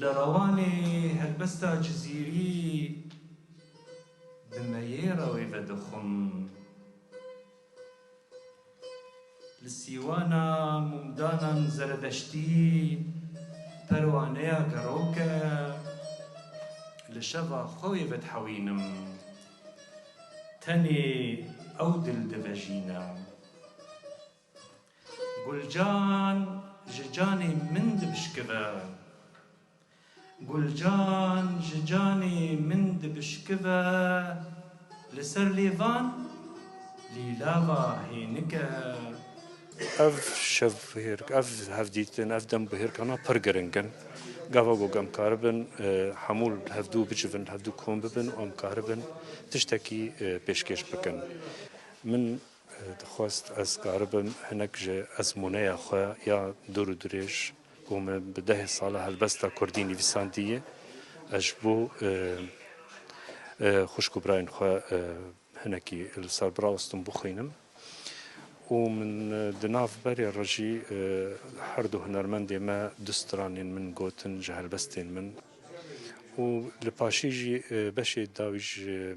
Li Rewanê helbesta Cizîrî di meyêra wê ve dixwim. Li Sîwana mûmdanan zeredeştî perwaneya gerok e. Li şeva xwe wê vedihewînim. Tenê ew dil divejîne. Gulcan ji canê min dibişkive. Gulcan ji canê min dibişkive li ser lêvan lîlava hênike. Ev şevbihêrk, ev hevdîtin, ev dembihêrkana pir giring in. Gava ku em karibin hemû li hevdû bicivin, hevdû kom bibin û em karibin tiştekî pêşkêş bikin. Min. Dixwest ez karibim hinek ji ezmûneya xwe ya dûr û dirêj ku min bi dehê sala helbesta kurdî nivîsandiye ez ji bo xwişk û birayên xwe hinekî li ser birawestim bixwînim û min di nav berê re jî her du hunermendê me du stranên min gotin ji helbestên min û li paşê jî beşê dawî ji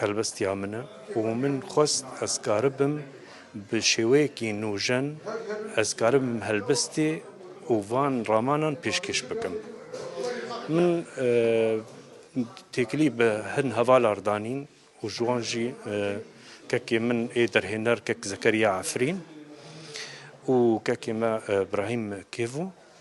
Helbestiya min e û min xwest ez karibim bi şêweyekî nûjen ez karibim helbestê û van ramanan pêşkêş bikim. Min têkilî bi hin hevalar danîn û ji wan jî kekê min ê derhêner kek Zekeriya Efrîn û kekê me Brahîm Kêvo.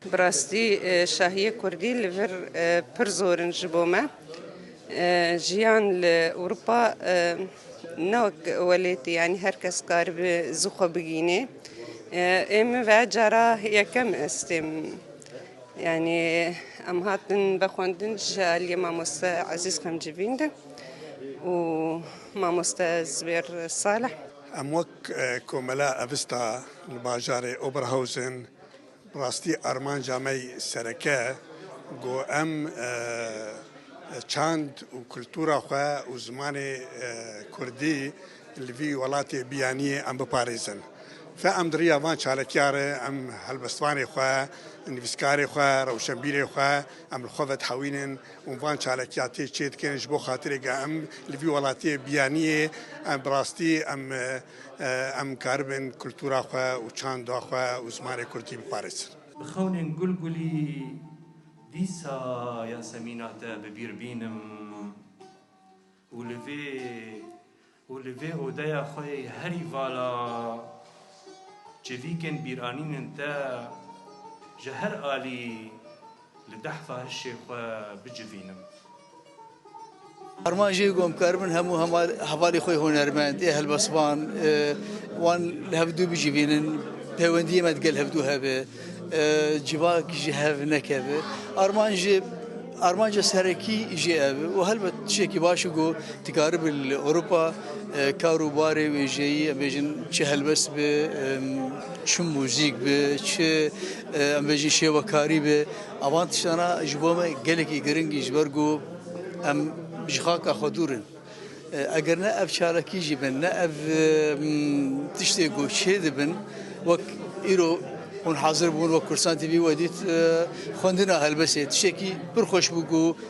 Bi rastî şahiyê kurdî li vir pir zor in ji bo me. Jiyan li Ewropa ne wek welatî yanî her kes karibe zû xwe bigînê. Ê min ve cara yekem estêm yanî em hatin ve xwendin ji aliyê mamoste Ezîz Xemcivîn de û mamoste Zubêr Salih. Em wek komela evista li bajarê Oberhausen. Bi rastî armanca me yê sereke ku em çand û kultura xwe û zimanê kurdî li vî welatê biyanîyê em biparêzin. Fe em di riya van çalekîya re em helbestvanê xwe, nivîskarê xwe, rewşenbîrê xwe em li xwe ve dihewînin û van çalekîya tê çêdikin ji bo xatirê ku em li vî welatê biyanîyê em bi rastî em Em karibin kultura xwe û çanda xwe û zimanê kurdî biparêzin. Bi xewnên gul gulî dîsa Yasemîna te bi bîr bînim û li vê û li vê odeya xwe yê herî vala çivîkên bîranînên te ji her alî Li dehfa hişê xwe bicivînim. Arman jê gom kar bin hemû hevalê xwe hunermend ê helbestvan wan li hev dû bicivînin, pêwendiyê me digel hev dû hebe, civak ji hev nekeve. Arman jê armanca serekî jê ev e û helbet tişekî baş e ku dikaribin li Ewropa kar û barê wêjeyî em bêjin çi helbest be, çi muzîk be, çi Em bêjî şêwekarî bi avan tiştan a ji bo me gelekî giringî ji ber ku em ji xaka xwe dûr in. Eger ne ev çalakî jî bin ne ev tiştê ku çê dibin wek îro hûn hazir bûn wek Kurdistan TV we dît xwendina helbestê tiştekî pir xweş bû ku